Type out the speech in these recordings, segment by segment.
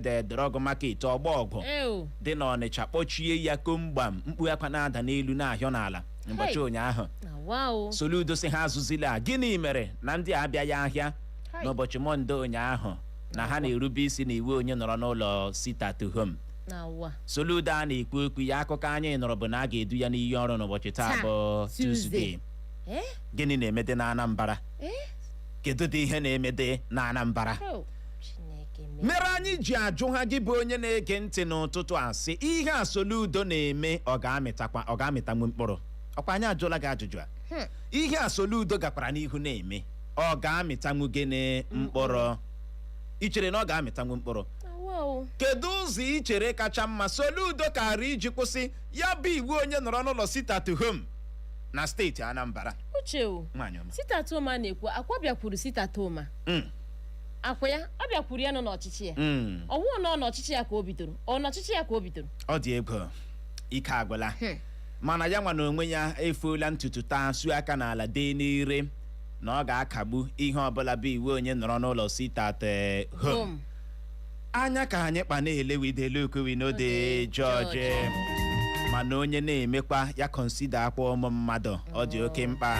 head Drug Market Ọgbọ Ọgwụ Ew. dị n'ọnịcha kpọchie ya komgbam mkpu akwa na-ada n'elu na-ahịọ n'ala ụbọchị Hey. ụnyaahụ Na wa o. soludo si ha azụzila a, gịnị mere na ndị a abịaghị ahịa Hai. n'ụbọchị mọnde ụnyaahụ na ha na-erube isi n'iwu onye nọrọ n'ụlọ sit at home Na wa. soludo a na-ekwu okwu ya akụkọ anyị nụrụ bụ na a ga-edu ya n'iyi ọrụ n'ụbọchị taa Taa, bụ Tuesday. Tuesday Eh? gịnị na-emede na Anambra Eh? kedu dị ihe na-emede na Anambra Ew. mere anyị ji ajụ ha gị bụ onye na-ege ntị n'ụtụtụ a sị ihe a Soludo na-eme ọ ga-amịtakwa ọ ga-amịtanwu mkpụrụ ọkwa anyị ajụla gị ajụjụ a hmm. ihe a Soludo gakwara n'ihu na-eme ọ ga-amịtanwu gịnị mkpụrụ i chere na ọ ga-amịtanwu mkpụrụ kedu ụzọ i chere kacha mma Soludo kaara iji kwụsị ya bụ iwu onye nọrọ n'ụlọ sit at home na steeti Anambra uche o sit at home a na-ekwu akwa bịakwuru sit at home hmm. akwa ya ọ bịakwuru ya nọ n'ọchịchị ya Mm. ọ wụrụ na ọ n'ọchịchị ya ka o bidoro ọ n'ọchịchị ya ka o bidoro ọ dị egwu ike agwụla Hmm. mana ya nwa na onwe ya efoola ntutu taa sụọ aka n'ala dee n'ire na ọ ga-akagbu ihe ọbụla bụ iwu onye nọrọ n'ụlọ sit at eh, home Boom. anya ka anyị kpa na-ele we dey look o we no dey judge mana onye na-emekwa ya consider akwa ụmụ mmadụ ọ dị oke mkpa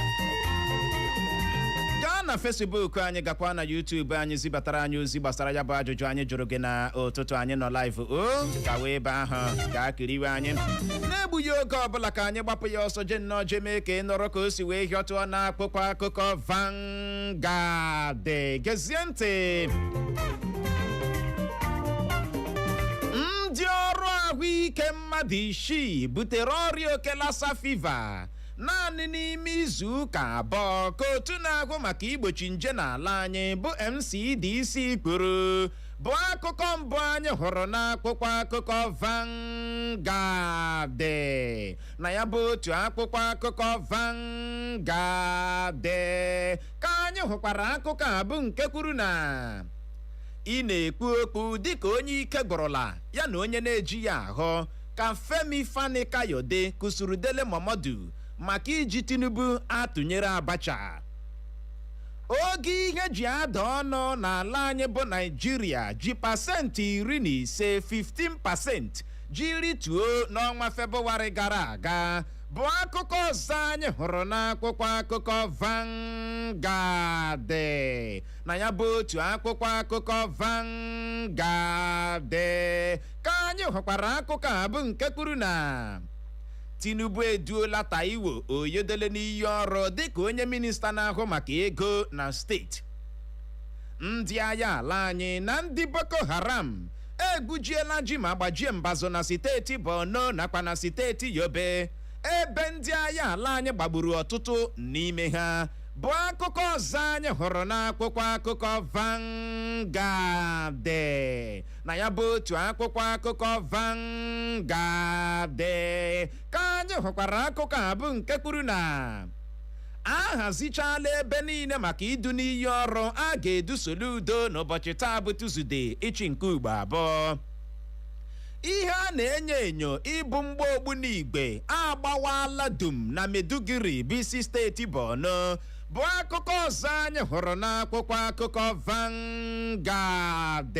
gaa na Facebook anyị gakwa na YouTube anyị zibatara anyị ozi gbasara ya bụ ajụjụ anyị jụrụ gị na ụtụtụ anyị nọ live o gawa ebe ahụ gaa kiriwe anyị n'egbughị oge ọbụla ka anyị gbapụ ya ọsọ je nnọọ je mee ka ị nụrụ ka o si wee hịọtụọ n'akwụkwọ akụkọ Van guard gezie ntị ndị ọrụ ahụike mmadụ isii butere ọrịa oke Lassa fever naanị n'ime izu ụka abụọ ka otu na-ahụ maka igbochi nje n'ala anyị bụ NCDC kwuru bụ akụkọ mbụ anyị hụrụ n'akwụkwọ akụkọ Vanguard na ya bụ otu akwụkwọ akụkọ Vanguard ka anyị hụkwara akụkọ a bụ nke kwuru na ị na-ekwu okwu dịka onye ike gwụrụla ya na onye na-ejighị ahụ ka Femi Fani Kayode kụsuru Dele Momodu maka iji Tinubu atụnyere Abacha ogo ihe ji ada ọnụ n'ala anyị bụ Naịjirịa ji pasentị iri na ise 15 pasentị ji rituo n'ọnwa Febụwarị gara aga bụ akụkọ ọzọ anyị hụrụ n'akwụkwọ akụkọ Vanguard na ya bụ otu akwụkwọ akụkọ Vanguard ka anyị hụkwara akụkọ a bụ nke kwuru na Tinubu eduola Taiwo Oyedele n'iyi ọrụ dịka onye minista na-ahụ maka ego na steeti ndị agha ala anyị na ndị Boko Haram egbujiela ji ma gbajie mbazụ na steeti Borno nakwa na steeti Yobe ebe ndị agha ala anyị gbagburu ọtụtụ n'ime ha bụ akụkọ ọzọ anyị hụrụ n'akwụkwọ akụkọ Vanguard na ya bụ otu akwụkwọ akụkọ Vanguard ka anyị hụkwara akụkọ a bụ nke kwuru na a hazichaala ebe niile maka idu n'iyi ọrụ a ga-edu Soludo n'ụbọchị taa bụ Tuzde ịchị nke ugbo abụọ ihe a na-enyo enyo ịbụ mgba ogbunigwe agbawala dum na Maiduguri bụ isi steeti Borno bụ akụkọ ọzọ anyị hụrụ n'akwụkwọ akụkọ Vanguard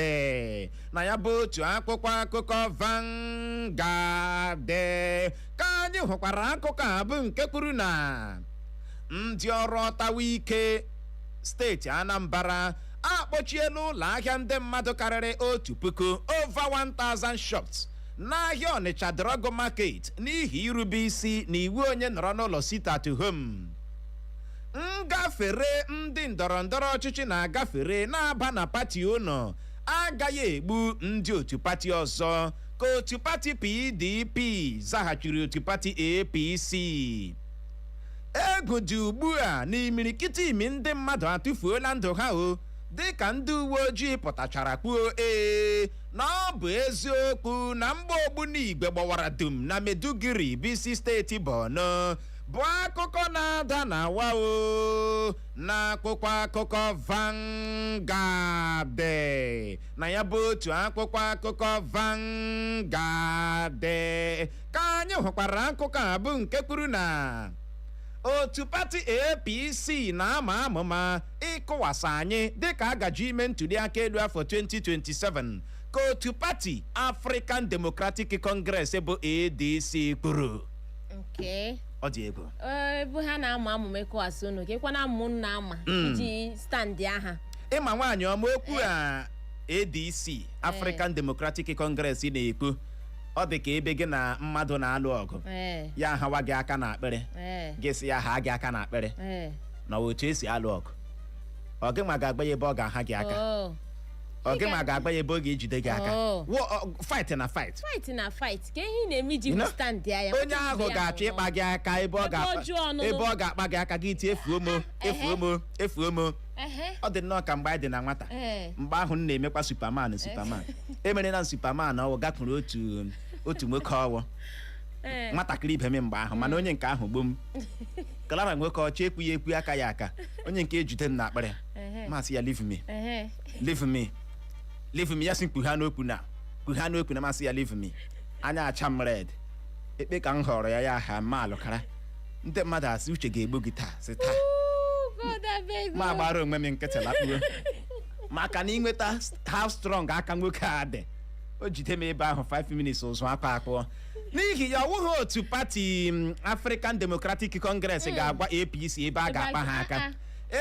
na ya bụ otu akwụkwọ akụkọ Vanguard ka anyị hụkwara akụkọ a bụ nke kwuru na ndị ọrụ ọtawa ike steeti Anambra akpọchiela ụlọ ahịa ndị mmadụ karịrị otu puku over 1000 shops n'ahịa Ọnịcha drug market n'ihi irube isi na iwu onye nọrọ n'ụlọ sit at home ngafere ndị ndọrọ ndọrọ ọchịchị na-agafere na-aba na pati unu agaghị egbu ndị otu pati ọzọ ka otu pati PDP zaghachiri otu pati APC egwu dị ugbu a na imirikiti imi ndị mmadụ atụfuola ndụ ha o dịka ndị uwe ojii pụtachara kwuo ee na ọ bụ eziokwu na mgba ogbunigwe gbawara dum na Maiduguri bụ isi steeti Borno bụ akụkọ na-ada na awa o na akwụkwọ akụkọ Vanguard na ya bụ otu akwụkwọ akụkọ Vanguard ka anyị hụkwara akụkọ a bụ nke kwuru na otu pati APC na-ama amụma ịkụwasị anyị dịka a gaje ime ntuliaka elu afọ 2027 ka otu pati African Democratic Congress bụ ADC kwuru Okay. ọ dị egwu Ee, ebe ha na-ama amụma ịkụwasị unu ka ịkwa na amụ na-ama iji stand aha ị ma nwaanyị ọma okwu a ADC African Democratic Congress na-ekwu ọ dị ka ebe gị na mmadụ na-alụ ọgụ ee ya hawa gị aka na akpịrị ee gị sị ya ha gị aka na akpịrị ee na otu e si alụ ọgụ ọ gịwa ga-agwa ya ebe ọ ga-aha gị aka oo ọ gịwa ga-agwa ya ebe ọ ga-ejide gị aka Oh. Wo- ọ- fight na fight fight na fight kee ihe ị na-eme iji You know, stand ya ya onye ahụ ga-achọ ịkpa gị aka ebe ọ Ebe ga-akpa ọjọọ ọnụnụ. ebe ọ ga-akpa gị aka gị tie efuo m o efuo m o efuo m o Ehe. ọ dị nnọọ ka mgbe anyị dị na nwata Ee. mgbe ahụ m na-emekwa Superman Superman emere na Superman ọ wụ gakwuru otu otu nwoke ọ wụ Ee. nwatakịrị ibe m mgbe ahụ mana onye nke ahụ gbo m kalara nwoke ọcha ekwu ya ekwu aka ya aka onye nke ejide m n'akpịrị Ehe. m asị ya leave me Ehe. leave me leave me ya sị mkpughe n'okwu na mkpughe n'okwu na m asị ya leave me anya acha m red ekpe ka m họrọ ya ya ha ma alụkara ndị mmadụ asị uche ga-egbu gị taa sị taa God abeg ma o. gbara onwe m nkịtị lakpuo maka na ị nweta how strong aka nwoke a dị o jide m ebe ahụ 5 minutes ụzụ akwa akpụọ n'ihi ya ọ wụghị otu pati mm, African Democratic Congress ga-agwa APC ebe a ga-akpa ha aka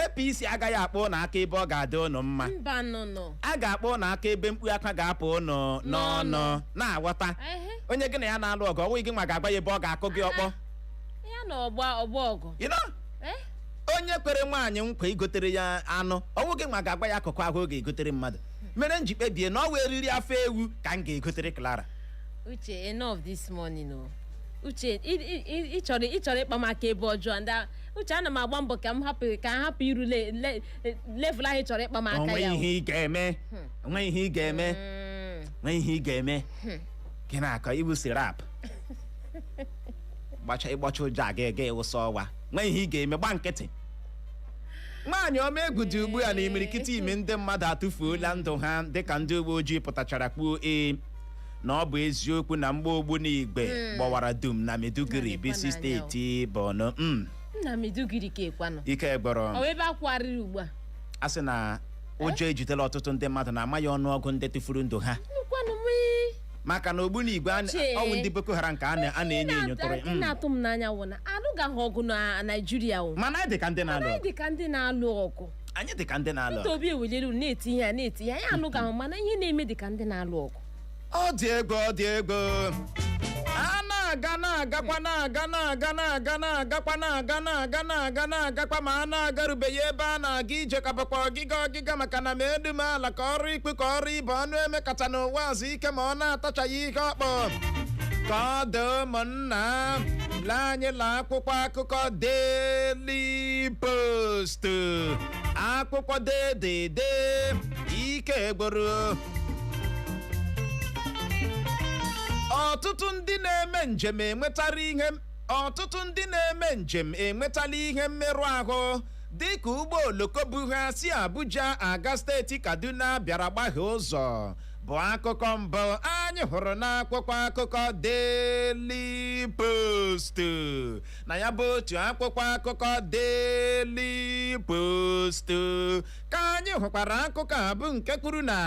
APC agaghị akpa ụnụ aka ebe ọ ga-adị ụnụ mma mba nụnụ a ga-akpa ụnụ aka ebe mkpu akwa ga-apụ ụnụ n'ọnụ N'ọnụ. na-aghọta Ehe. onye gị na ya na-alụ ọgụ ọ wụ gị nwa ga-agwa ya ebe ọ ga-akụ gị ọkpọ ya na ọgba ọgba ọgụ you know Eh? onye kwere nwaanyị nkwa igotere ya anụ ọ wụ gị nwa ga-agwa ya akụkụ ahụ ọ ga-egotere mmadụ mere m ji kpebie na ọ wụ eriri afọ ewu ka m ga-egotere Clara uche enough this morning o uche ị- ị- ị- ị chọrọ ị chọrọ ịkpa m aka ebe ọjọọ ndị a- uche ana m agba mbọ ka m hapụ ka m hapụ iru le- le- level ahụ ị chọrọ ịkpa m aka o nwe ya o. ihe ị ga-eme o nwe ihe ị ga-eme Mm. o nwe ihe ị ga-eme gị na-akọ iwu sirap gbacha ịgbacha ụjọ a ga-ega ịwụsa ọwa nwee ihe ị ga-eme gba nkịtị nwaanyị ọma egwu dị ugbu a na imirikiti ime ndị mmadụ atụfuola ndụ ha dịka ndị uwe ojii pụtachara kwuo ee na ọ bụ eziokwu na mgbọ ogbunigwe gbawara dum na Maiduguri Na bụ isi Lekwa n'anya o. steeti Borno Mm, nna Maiduguri ka ekwanụ ike ọ gbọrọ bụ ebe akwụgharịrị ugbu a a sị na ụjọ ejidela ọtụtụ ndị mmadụ na a maghị ọnụọgụ ndị tụfuru ndụ ha nnukwanụ mụ maka na ogbunigwe a na- Uche. ọ wụ ndị Boko Haram ka a na- a na-enyo enyo tụrụ ya. Ihe Mm. na-atụ m n'anya wụ na alụgaghị ọgụ na naijiria o mana anyị dị ka ndị na-alụ anyị ọgụ dị ka ndị na-alụ ọgụ anyị dị ka ndị na-alụ Peter ọgụ Obi ewelere unu na-eti ihe a na-eti ihe anyị alụgaghị mana ihe na-eme dị ka ndị na-alụ ọgụ ọ dị egwu ọ dị egwu a na-aga na-agakwa na-aga na-aga na-aga na-agakwa na-aga na-aga na-aga na-agakwa ma a na-agarubeghị ebe a na-aga ije ka bụkwa ọgịga ọgịga ịga maka na ma edu m ala ka ọrụ ikpe ka ọrụ ibe ọnụ emekata n'ụwa azụ ike ma ọ na-atachaghị ihe ọkpọ ka ọ dị ụmụnna lee anyị la akwụkwọ akụkọ Daily Post akwụkwọ dedede ike gwụrụ ọtụtụ ndị na-eme njem enwetara ihe ọtụtụ ndị na-eme njem enwetala ihe mmerụ ahụ dịka ụgbọ oloko bu ha si Abuja aga steeti Kaduna bịara gbahie ụzọ bụ akụkọ mbụ anyị hụrụ n'akwụkwọ akụkọ Daily Post na ya bụ otu akwụkwọ akụkọ Daily Post ka anyị hụkwara akụkọ a bụ nke kwuru na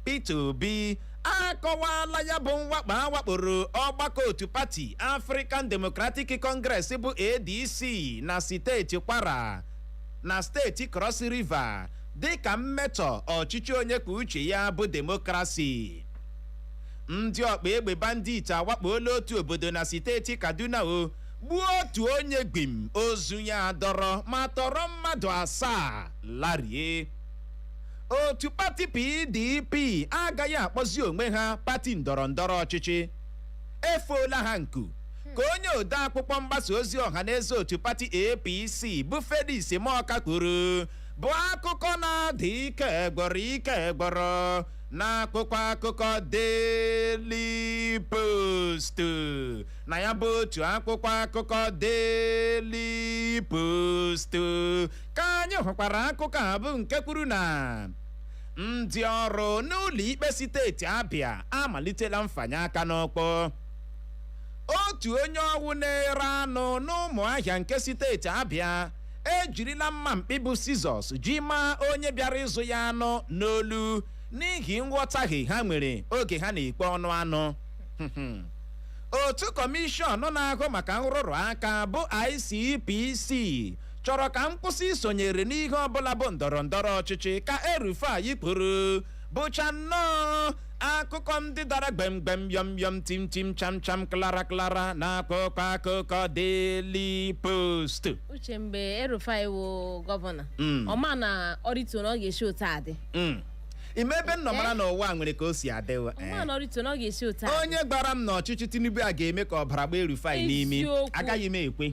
Peter Obi akọwala ya bụ mwakpo a wakporo ọgbakọ otu pati African Democratic Congress bụ ADC na steeti Kwara na steeti Cross River dịka mmetọ ọchịchị onye kwuo uche ya bụ demokrasi ndị ọkpa egbe bandit awakpola otu obodo na steeti Kaduna o gbuo otu onye gbim ozu ya adọrọ ma tọrọ mmadụ asaa larie otu pati pdp agaghị akpọzi onwe ha pati ndọrọ ndọrọ ọchịchị efoola ha nku ka onye ode akwụkwọ mgbasa ozi ọha na eze otu pati apc bụ felix morka kwuru bụ akụkọ na-ada ike egwọrọ ike egwọrọ n'akwụkwọ akụkọ daily post na ya bụ otu akwụkwọ akụkọ daily post ka anyị hụkwara akụkọ a bụ nke kwuru na ndị ọrụ n'ụlọ ikpe steeti Abịa amalitela mfanye aka n'ọkpọ otu onye ọwụ na-ere anụ n'Ụmụahịa nke steeti Abịa ejirila mma mkpị bụ scissors ji maa onye bịara ịzụ ya anụ n'olu n'ihi nghọtahie ha nwere oge ha na-ekwe ọnụ anụ otu kọmishọn na-ahụ maka nrụrụ aka bụ ICPC chọrọ ka m kwụsị isonyere n'ihe ọbụla bụ ndọrọ ndọrọ ọchịchị ka El-Rufai kwuru bụcha nnọọ akụkọ ndị dara gbemgbem yọm yọm tim tim cham cham klara klara n'akwụkwọ akụkọ Daily Post uche mgbe El-Rufai wụ gọvanọ Mm. ọ ma na o rituo na ọ ga-esi otu a dị Mm. ime ebe m nọ mara na ụwa nwere ka o si adịwa ọ ma na o rituo na ọ ga-esi otu a dị onye gwara m na ọchịchị Tinubu a ga-eme ka ọbara gbaa El-Rufai n'imi Eziokwu. agaghị m ekwe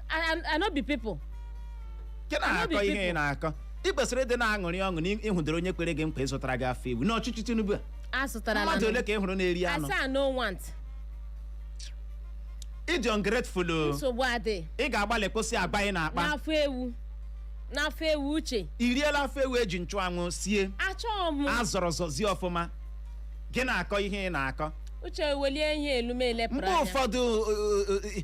I, I, I no be people. nke na-akọ Obi ihe ị people. na-akọ ị kwesịrị ịdị na-aṅụrị ọṅụ na ị- ị hụdoro onye kwere gị nkwa ịzụtara gị afọ ewu n'ọchịchị tinubu a A zụtara mmadụ ole ka ị hụrụ na-eri anụ I say I no want. ị dị ungrateful o. Nsogbu adị. ị ga-agbalị kwụsị agwa ị na-akpa N'afọ ewu. N'afọ ewu uche. i riela afọ ewu e ji nchụanwụ sie Achọghị m. azọrọ zọzie ọfụma gị na-akọ ihe ị na-akọ Uche welie ihe elu m elepụrụ mgbe anya. ụfọdụ uh, uh, uh,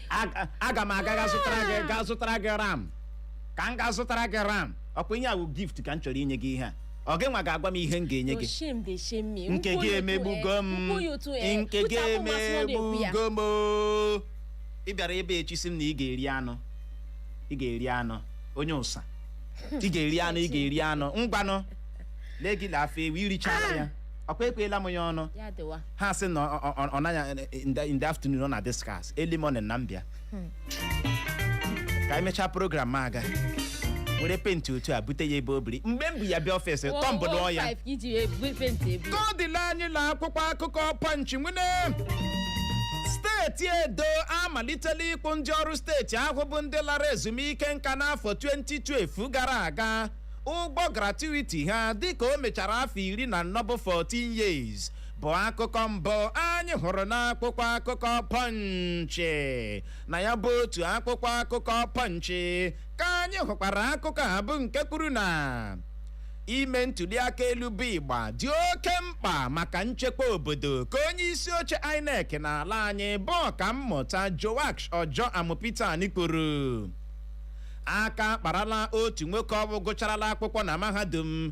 Aga- aga m aga ga zụtara gị ga zụtara gị ram ka m ga-azụtara gị ram ọkwa ihe a wụ gift ka m chọrọ inye gị ihe a ọ gị nwa ga-agwa m ihe m ga-enye Your gị shame dey shame me. nke Ukwu gị ya otu, emegbugo eh, m ukwu ya otu, eh, nke gị pụta bụ nwa sị na ọ na-ekwu ya. emegbugo m oo. ị bịara ebe echi sị m na ị ga-eri anụ ị ga-eri anụ onye ụsa ị ga-eri anụ ị ga-eri anụ ngwanụ lee gị lee afọ ewu irichara ya ọkwa ekweela m ya ọnụ Ya dịwa. ha sị na ọ- ọ- ọ naghị in the- in the afternoon ọ na discuss early morning na m bịa ka anyị mechaa program a aga were penti otu a bute ya ebe o biri mgbe m bu ya bịa ọfịs tọmbụlụọ ya 115 ka iji ya ebu penti ebu ka ọ dịla anyị na akwụkwọ akụkọ Punch nwene steeti edo amalitela ịkwụ ndị ọrụ steeti ahụ bụ ndị lara ezumike nka n'afọ 2012 gara aga ụgwọ gratuity ha dịka o mechara afọ iri na anọ bụ 14 years bụ akụkọ mbụ anyị hụrụ n'akwụkwọ akụkọ Punch na ya bụ otu akwụkwọ akụkọ Punch ka anyị hụkwara akụkọ a bụ nke kwuru na ime ntuliaka elu bụ ịgba dị oke mkpa maka nchekwa obodo ka onye isi oche INEC n'ala anyị bụ ọkammụta Joash Ojo Amupitan kwuru aka akparala otu nwoke ọ bụ gụcharala akwụkwọ na mahadum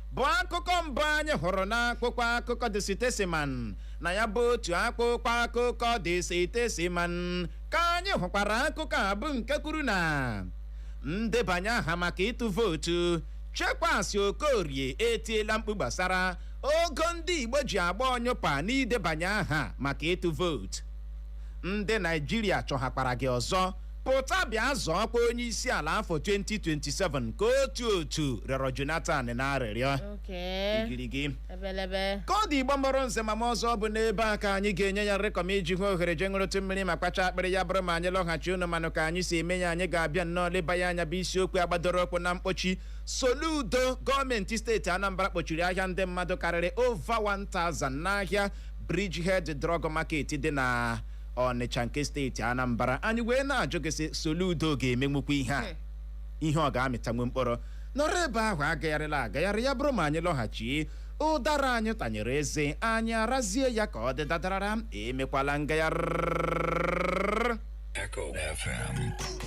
bụ akụkọ mbụ anyị hụrụ n'akwụkwọ akụkọ The Statesman na ya bụ otu akwụkwọ akụkọ The Statesman ka anyị hụkwara akụkọ a bụ nke kwuru na ndebanye aha maka ịtụ vootu Chekwas Okorie etiela mkpu gbasara ogo ndị Igbo ji agba ọnyụpa n'idebanye aha maka ịtụ vootu ndị Naijiria chọhakwara gị ọzọ pụta bịa zọọkwa onye isi ala afọ 2027 ka otu otu rịọrọ Jonathan na arịrịọ Okay. igirigi Ebelebe. ka ọ dị igbo mụrụ nze ma mụọ ọzọ bụ n'ebe a ka anyị ga-enye ya rịkọm iji hụ ohere je ṅụrụtụ mmiri ma kpacha akpịrị ya bụrụ ma anyị lọghachi unu manụ ka anyị si eme ya anyị ga-abịa nnọọ leba ya anya bụ isiokwu a gbadoro ụkwụ na mkpọchi soludo gọọmenti steeti anambra kpọchiri ahịa ndị mmadụ karịrị over 1000 n'ahịa bridgehead drug market dị na Ọnịcha nke steeti Anambra anyị wee na-ajụ gị sị Soludo ga-emenwukwa ihe a ihe ọ ga-amịtanwu mkpụrụ nọrọ ebe ahụ agagharịla agagharị ya bụrụ ma anyị lọghachi ụdara anyị tanyere eze anyị arazie ya ka ọ dị dadarara emekwala ngagharị Echo FM.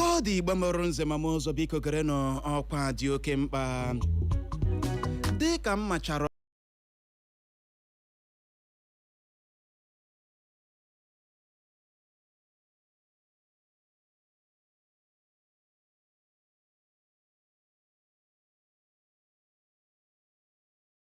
ka ọ dị Igbo mụrụ nze ma m ụzọ biko gerenụ ọkwa a dị oke mkpa dị ka m machara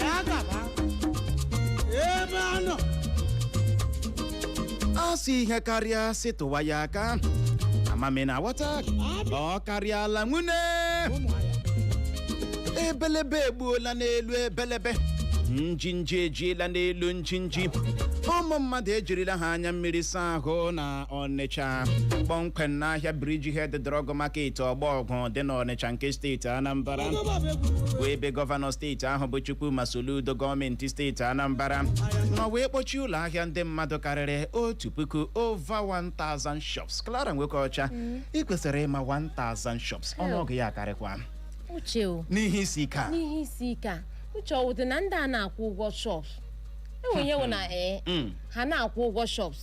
ya gaba ebe a nọ a sị ihe karịa sị tụwa ya aka amami na aghọta ọ karịala nwune ụmụahịa ebelebe egbuola n'elu ebelebe njinji ejiela n'elu njinji ụmụ mmadụ ejirila ha anya mmiri saa ahụ na Ọnịcha kpọmkwem n'ahịa Bridgehead Drug Market Ọgbọ Ọgwụ dị n'Ọnịcha nke steeti Anambra bụ ebe gọvanọ steeti ahụ bụ Chukwuma Soludo gọọmenti steeti Anambra nọ wee kpọchie ụlọ ahịa ndị mmadụ karịrị otu puku over 1000 shops Clara Nwokeọcha ị kwesịrị ịma 1000 shops ọnụọgụ ya karịkwa uche o n'ihe isi ike a n'ihe isi ike a uche ọ wụdị na ndị a na-akwụ ụgwọ shops enwe ihe wụ na ee Mm. ha na-akwụ ụgwọ shops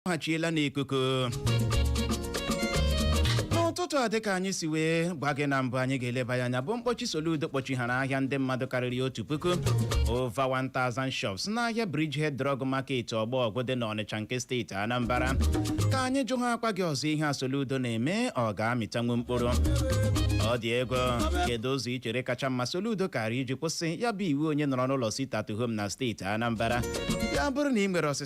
akpọghachiela n'ikuku n'ụtụtụ a dịka anyị si wee gwa gị na mbụ anyị ga-eleba ya anya bụ mkpọchi Soludo kpọchighara ahịa ndị mmadụ karịrị otu puku over 1000 shops n'ahịa Bridgehead Drug Market ọgbọ ọgwụ dị n'Ọnịcha nke steeti Anambra ka anyị jụhaakwa gị ọzọ ihe a Soludo na-eme ọ ga-amịtanwu mkpụrụ ọ dị ego kedu ụzọ ị chere kacha mma Soludo kara iji kwụsị ya bụ iwu onye nọrọ n'ụlọ sit at home na steeti Anambra ya bụrụ na ị nwere ọsịsa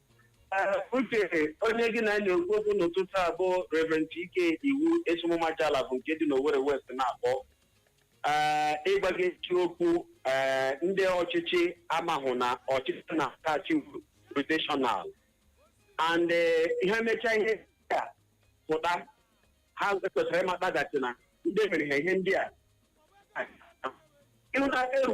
Ee, uche onye gị na ya na-ekwu okwu n'ụtụtụ a bụ Reverend Ike Iwu esi m Ụmụajala bụ nke dị n'Owerri West na-akpọ Ee, ịgwa gị eziokwu ee, ndị ọchịchị amahụ na ọchịchị na-akachi rotational and eh, ihe mechaa ihe ndị a pụta ha kwesịrị ịmataghachi na ndị mere ha ihe ndị a ịhụ na eru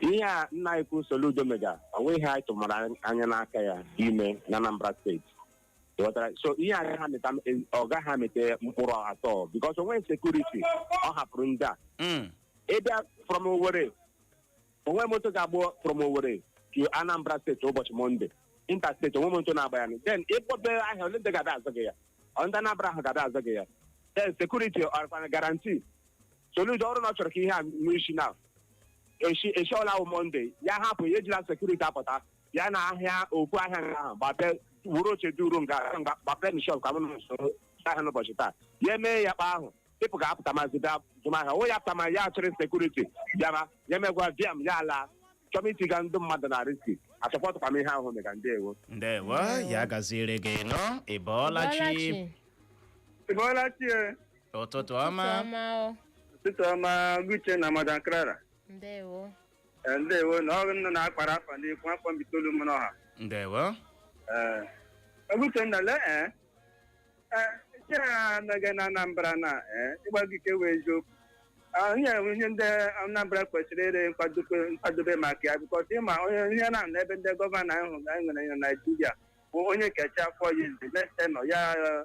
ihe a nna anyị ukwu Soludo mega o nweghị ihe anyị tụmara anya n'aka ya ime na Anambra steeti Ị ghọtara? so ihe a gaghị amịta ọ gaghị amịta mkpụrụ at all because o nweghị sekuriti ọ hapụrụ ndị a Mm. ị bịa from Owerri o nwe moto ga-agba from Owerri to Anambra steeti ụbọchị Mọnde interstate o nwe moto na-agba ya then ị kpọbe ahịa ole ndị ga-ada azụ gị ya ọ ndị Anambra ahụ ga-ada azụ gị ya then sekuriti ọ rịkwa na guarantee soludo ọ wụrụ na ọ chọrọ ka ihe a nwee isi na eshi eshi ọla wụ monde ya hapụ ya ejila sekuriti apụta ya na ahịa ukwu ahịa nga ahụ gbape wuru oche duru nga nga- gbape na shọp ka mụ na usoro ahịa n'ụbọchị taa ya emee ya kpa ahụ pipụ ga-apụta ma zụta azụmahịa onwe ya apụta ma ya achịrị sekuriti bịara ya megwa bịam ya ala chọm itiga ndị mmadụ na riski asọpọtụkwa m ihe ahụ mega ndewo ndewo ya gaziere gị nọ ị bọọla chi Bọọla chi. Bọọla chi e, ụtụtụ ọma Chioma o. ụtụtụ ọma ọga uche na madam Clara Ndewo. Eh, ndewo na ọrụ nọ na-akpara afa n'ikwu afọ mbaitolu m n'ọha ndewo ọga uchenna lee eh, eh, nke a anaghị na anambra na eh, ịgwa gị ka ọ wụ eziokwu onye ihe ndị anambra kwesịrị ịrị nkwadobe nkwadobe maka ya bikọs ị ma o nwere ihe na na ebe ndị gọvanọ ahụ ga nwere na naijiria bụ onye kecha afọ ya izi next tenure ya eh,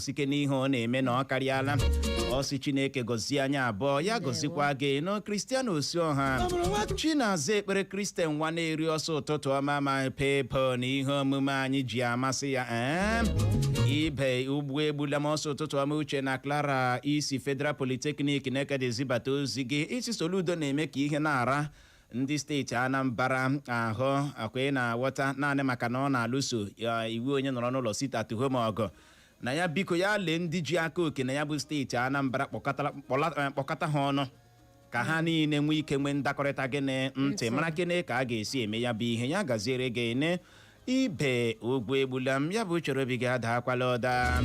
sike n'ihe ọ na-eme na ọ karịala ọ sị chineke gọzie anyị abụọ ya gọzikwa gị na kristian osuoha chinaza ekpere kristian nwaneri ọ sị ụtụtụ ọma my people na ihe omume anyị ji amasị ya ee ibe ugbu egbula m ọ sị ụtụtụ ọma uche na clara i si federal polytechnic nekede zibata ozi gị ị sị soludo na-eme ka ihe na-ara ndị steeti anambra ahụ ọkwa ị na-aghọta naanị maka na ọ na-alụso iwu onye nọrọ n'ụlọ sit at home ọgụ na ya biko ya lee ndị ji aka oke na ya bụ steeti anambra kpọkọtara- kpọla- eh, kpọkọta ha ọnụ ka ha niile nwee ike nwee ndakọrịta gee ntị mara gịnị ka a ga-esi eme ya bụ ihe ya gaziere gị ne ibe ugwu egbula m ya bụ uche obi gị adaakwala ụda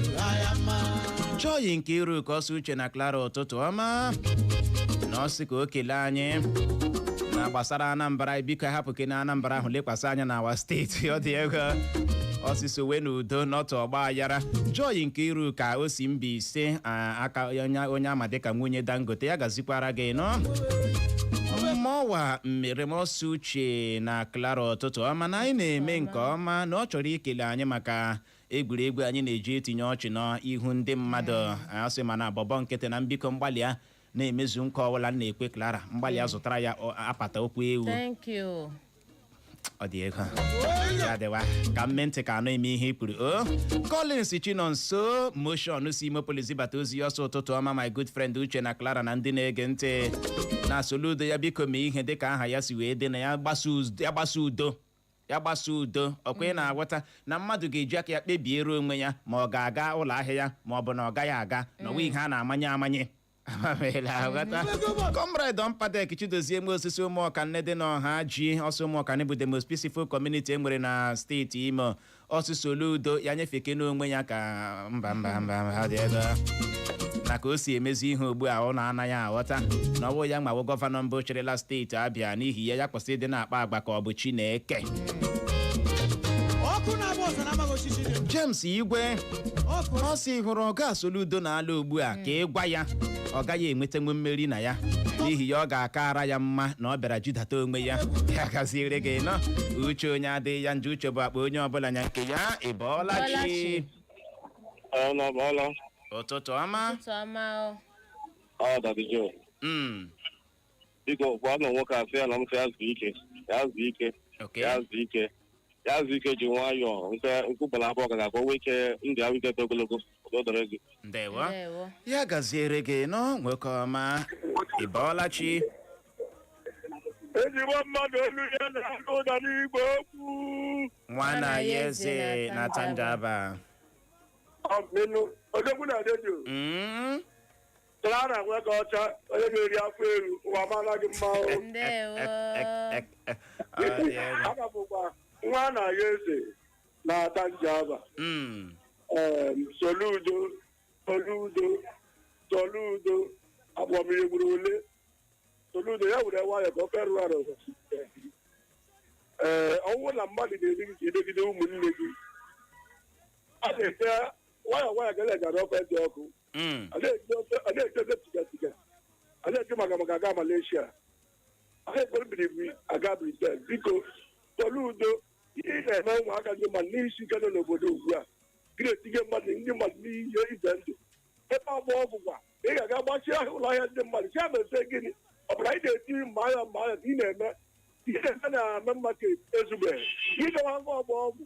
joy nkeiruka ọ sị uche na Clara ụtụtụ ọma na ọ sị ka o kelee anyị na gbasara anambra biko hapụkene anambra ahụ lekwasị anya na our steeti ọ dị egwu ọsịsọ wee na udo n'ọtụ ọgba aghara joy nkeiruka o si mbaise a- aka onye onye a ma dịka nwunye dangote ya gazikwara gị nọ emmanuel mmerem ọ sị uche che na Clara ụtụtụ ọma na anyị na-eme nke ọma na ọ chọrọ ikele anyị maka egwuregwu anyị na-eji etinye ọchị n'ihu ndị mmadụ ọ sị mana bọbọ nkịtị na m biko m gbalịa na-emezu nkwa ọbụla m na-ekwe Clara m gbalịa zụtara ya ọ- apata ụkwụ ewu Thank you. ọ dị egwu ya dịwa ka m mee ntị ka anụghị m ihe i kwuru o Collins Chinonso motion si Imo Poly zibata ozi ọ sị ụtụtụ ọma my good friend Uche na Clara na ndị na-ege ntị na soludo ya biko mee ihe dịka aha ya si wee dị na ya gbasa uz- ya gbasa udo ya gbasa udo ọkwa ị na-aghọta na mmadụ ga-eji aka ya kpebiere onwe ya ma ọ ga-aga ụlọ ahịa ya ma ọ bụ na ọ gaghị aga na ọ wụghị ihe a na-amanye amanye Ama m ị na-aghọta. Comrade Ọmpadek Chidozie nwosu si ụmụọkanne dị n'ọhaji ọ sị ụmụọkanne bụ the most peaceful community e nwere na steeti Imo ọ sị Soludo ya nyefeke n'onwe ya ka mba mba mba mba dị ebe a. na ka o si emezi ihe ugbu a ọ na-anaghị aghọta na ọ bụ ya nwa wụ gọvanọ mbụ chịrịla steeti Abịa n'ihi ya ya kwụsị ịdị na-akpa agwa ka ọ bụ Chineke ọkụ na-agba ọzara amaghị osisi dị ndụ. James Igwe ọkụ ọ sị hụrụ ọga Soludo na ala ugbu a ka ị gwa ya ọ gaghị enwetanwu mmeri na ya n'ihi ya ọ ga-akara ya mma na ọ bịara jidata onwe ya ya gaziere gị nnọọ uche onye adịghị ya njọ uche bụ akpa onye ọbụla nya nke ya ị bọọla chi Bọọla chi. Ọla ọla ụtụtụ ọma Ụtụtụ ọma o. ọ dabijo. Mm. biko gwanụ nwoke a sị ya na m sị ya zuo ike ya zuo ike Okay. ya zuo ike ya zuo ike ji nwayọọ nke nkwụgbara abụọ gara ka o nwee ike ndị ahụ idete ogologo o doro gị Ndewo. Ndewo. Ya gaziere gị nnọọ nwoke ọma. Ị bọọla chi. ezigbo mmadụ olu ya na-anụ ụda n'igwe okwu Nwa nna ya eze na Atta Njaba. ọmịnụ odogwu na redio Mm. Clara Nwokeocha onye na-eri afọ elu ụwa mara gị mma o. ndewo Aha m bụkwa Nwa nna ya eze na Atta Njaba. Mm. Em, Soludo, Soludo, Soludo, agbamiri gburu ole. Soludo ya were nwayọ ka ọ ferụ arụ. Ee, ọnwụ na mmadụ na-eji gị emegide ụmụnne gị. A na-ete nwayọ nwayọ ka e ji ara ofe dị ọkụ. Mm. a na-eji ofe a na-eji ofe tiga tiga a na-eji maka maka aga Malaysia a na-ekwere biribiri aga Britain biko Soludo ihe ị na-eme ụmụaka ndị mmadụ n'isi ike nọ n'obodo ugbu a gị na-etinye mmadụ ndị mmadụ n'ihe ize ndụ ebe Ọgbọ Ọgwụ kwa ị ga-aga gbachie ahịa ụlọ ahịa ndị mmadụ si abese gịnị ọ bụla anyị na-eti mma agha mma agha ka ị na-eme ihe na-eme na Main Market ezubeghị ị gawa ngwa Ọgbọ Ọgwụ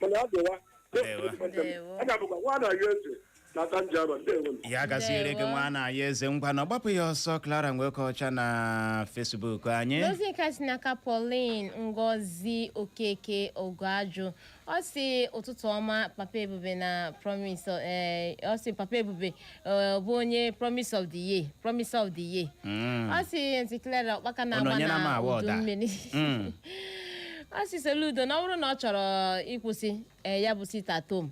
mana ọ dịwa Ndewo. Ndewo. aha m bụkwa Nwa nna ya eze na Atta Njaba ndewo ya gaziere gị Ndewo. Nwa nna ya eze ngwa na ọgbapụ ya ọsọ Clara Nwokeocha na Facebook anyị ozi nke a si n'aka Pauline Ngozi Okeke Ogoajụ ọ sị ụtụtụ ọma papa ebube na promise eh, ọ sị papa ebube eh, bụ onye promise of the year promise of the year Mm. ọ sị aunty Clara ụkpaka Unu na-agba nyere m na award udu a. mmiri Mm. ọ sị Soludo na ọ bụrụ na ọ chọrọ ịkwụsị eh, ya bụ sit at home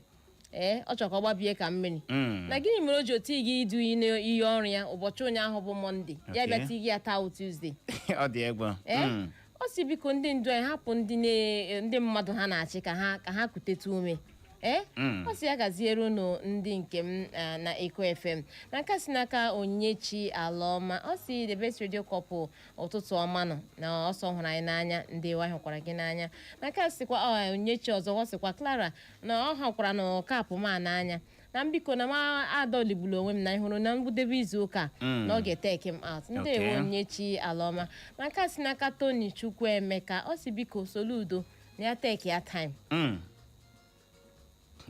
ee ọ chọrọ ka ọ gbabie ka mmiri Mm. na gịnị mere o ji o tighị idu iyi ọrụ ya ụbọchị ụnyaahụ bụ mọnde ya Okay. bịa tighi ya taa tuzdee ọ dị egwu ee Mm. ọ sị biko ndị ndu anyị hapụ ndị na- ndị mmadụ ha na-achị ka ha ka ha kutetu ume ee Mm. ọ sị ya gaziere unu ndị nke m ah, na eko fm na nke a si n'aka onyinyechi alaọma ọ sị the best radio couple ụtụtụ ọma nụ na ọ sị ọ hụrụ anyị n'anya ndeewo anyị hụkwara gị n'anya na nke a sikwa ọ, onyinyechi ọzọ ọ sịkwa clara na ọ hụkwaranụ cap m a n'anya na biko na m adọligburu onwe m na ịhụrụ na ngwụdebe izu ụka Mm. na ọ ga-eteki m out ndeewo Okay. onyinyechi alaọma na nke a si n'aka tony chukwuemeka ọ sị biko soludo na ya take ya time Mm.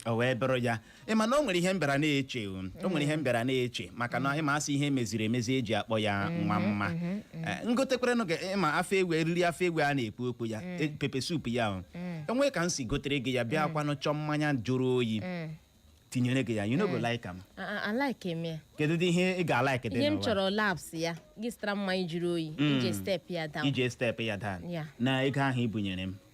o wee bụrụ ya ị ma na o nwere ihe m bịara na-eche o o nwere ihe m bịara na-eche maka na ị ma a sị ihe meziri emezi e ji akpọ ya nwa mma Eh, m gotekwaranụ gị ị ma afọ ewu eriri afọ ewu a na-ekwu okwu ya e- pepper soup ya o nwee ka m si gotere gị ya bịa kwanụ chọọ mmanya jụrụ oyi tinyere gị ya you no go like am alaike m ya kedu dị ihe ị ga-alaik dị ihe m n'ụwa? chọrọ laps ya gị zụtara mmanya jụrụ oyi iji step ya down iji step ya down Ya. na ego ahụ i bunyere m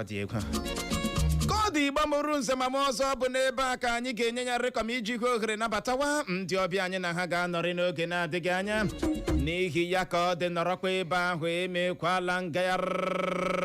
ọ dị egwu ka ọ dị igbo mụrụ nze mụọ ọzọ ọ bụ n'ebe a ka anyị ga-enye ya rịkọm iji hụ ohere nabatawa ndị ọbịa anyị na ha ga-anọrị n'oge na-adịghị anya n'ihi ya ka ọ dị nọrọkwa ebe ahụ emekwala ngagharị